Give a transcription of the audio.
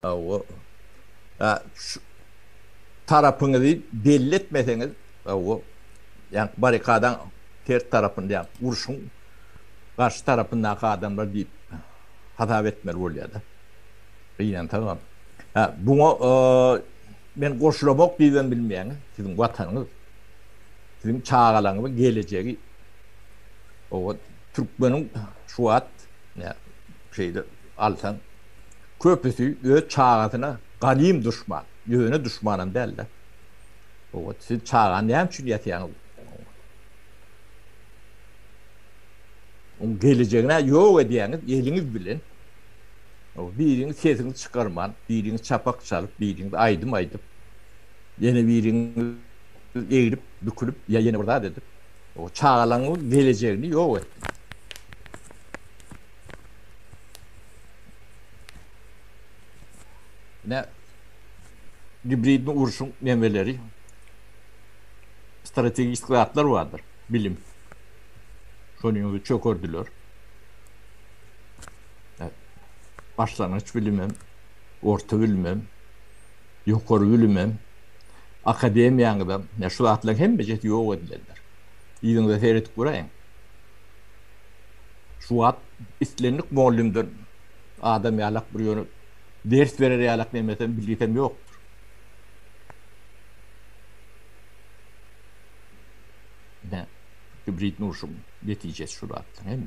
Hawa. Ä şu tarapyňyzy belli etmeseňiz, hawa, ýaňky barrikadaň ters tarapynda, ýa urşuň garşy tarapyndaky adamlar diýip hasap etmeli bolýar-da. Gynansagam. Hä, buňa men goşulamok diýibem bilmeýän. Siziň Watanyňyz, siziň çagalaryňyzyň gelejegi. Hawa, türkmeniň şu wagt, ýa şeýle alsaň, Köpüsi öz çagasyna ganym duşman, ýöne duşmanam däldi. Oňat siz çagany näme üçin ýasýaňyz? Oň gelejegini ýok edýäňiz eliňiz bilen. Biriňiz sesiňizi çykarman, biriňiz çapak çalyp, biriňiz aýdym aýdyp, ýene biriňiz egrip, bükülip ýa ýene bir zat edip, o çagalaryňyň gelejegini ýok etdiňiz. Ine gibridni urşuň nemeleri strategik zatlar bardyr. Bilim. Şony ýöne çökerdiler. Başlangyç bilimem, orta bilimem, ýokary bilimem, akademiýaňyzam, ne şu zatlaryň hemmesi ýok edilendir. Ýüzüňize seredip guraýyň. Şu wagt islendik mugallymdan adam ýalak bir ýöne ders berer ýalak nemesem bilgisem ýokdur. Ine, kibrit nurşuň netijesi şu zatlaryň hemmesi.